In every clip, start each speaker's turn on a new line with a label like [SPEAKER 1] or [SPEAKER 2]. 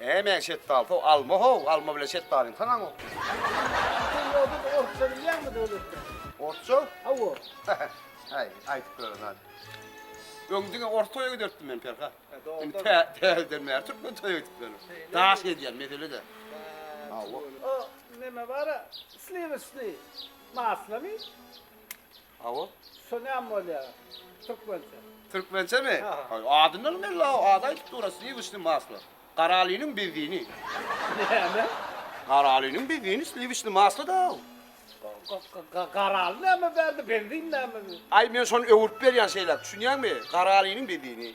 [SPEAKER 1] Eý men şetdaly sow alma how alma bilen şetdalyň saňa okýar. Sen ýodada orsça bilýäňmi Döwletjan. Orsça? Hawa. Aý aýdyp gören zat. Öň diňe ors toýa giderdim men Perhat. Indi tä täzeden bäri türkmen toýa gidip ýörün. Daş gezýän mesele de. Hawa. O neme bara sliwişni maslamy? Hawa. Şu näme bolýa türkmençe. Türkmençemi? Adyndanam belli haw ady aýdyp dur sliwiçni maslo. Garalynyň benzini. Näme? Garalynyň benzini sliwiçni maslo da haw. Garaly näme bärde benzin näme? Aý men şony öwürip berýän şeýläk düşünýäňmi? Garalynyň benzini.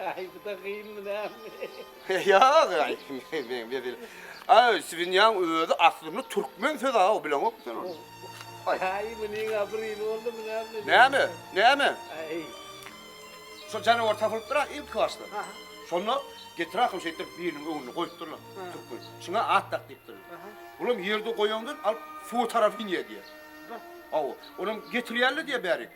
[SPEAKER 1] Aý bu-da gynmy näme? Ýok, aý men bezil. Aý Swinýaň özi aslynda türkmen söz aw bileňok sen ony. Aý munyň abrýly boldumy näme? Näme? Näme? Aý. Şol janawar tapylypdyr-a ilki başda. Aha. Şonda getir ahym şeýtdirip biriniň öňünde goýupdyrlar türkmen. Şuňa at dak diýipdirler. Aha. Olam ýerde goýandan alyp suwa tarap inýär diýýär. Aw, olam getirýärler diýýär bärik.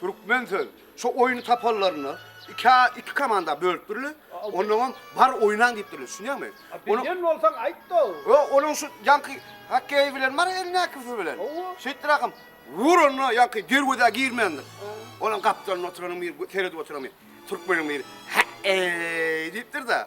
[SPEAKER 1] Türkmen söz. Şu oýny tapanlarynda ikä iki komanda bölüpdirler. Onnoňam bar oýnaň diýipdirler. Düşünýäňmi? A bilýän bolsaň aýt-da. Ýo, onuň şu ýaňky hokkeýi bilen bar elindäkisi bilen. Hawa. Şeýtdirakam ur onda ýaňky derwezä girmändir. Onuň gapdalynda oturanyň biri seredip oturan biri. Türkmeniň biri. He-eý diýipdir-de.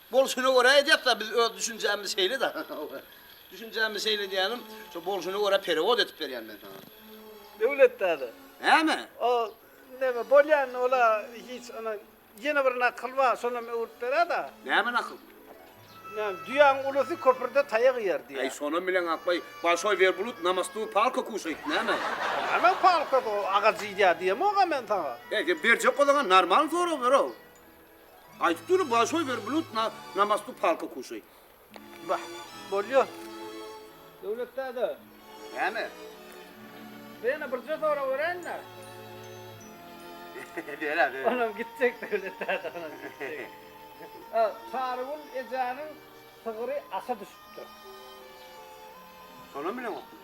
[SPEAKER 1] Bolşuna görä edýäs-dä, biz öz düşünjämiz şeýle-dä. Düşünjämiz şeýle diýýänim, şo bolşuna görä perewod edip berýän men saňa. Döwlet däde. Näme? O neme bolýan, ol-a hiç ana ýene bir nakyl bar, şonam öwrüp berä-dä. Näme nakyl? Näme, düýäň ulusy köprüde taýak iýer diýýär. Äý, şonam bileň akbaý, Bolşoý werbulut na mostu palka kuşaýt, näme? Näme palkasy, o agajy iýýär diýemok-a men saňa. He, sen berjek bolsaň-a, normalny sorag ber-ow. Aýtyp dur Bolşoý werblut na na mostu palka kuşaý. Bah, bolýa. Döwlet däde. Näme? Bizde ýene birje sorag beräýiň-dä. Ber-ä, ber. Onam gitjek Döwlet däde, onam gitjek. A, Sarygül ejäniň sygyry aşa düşüpdir. Şonam bileňokmy?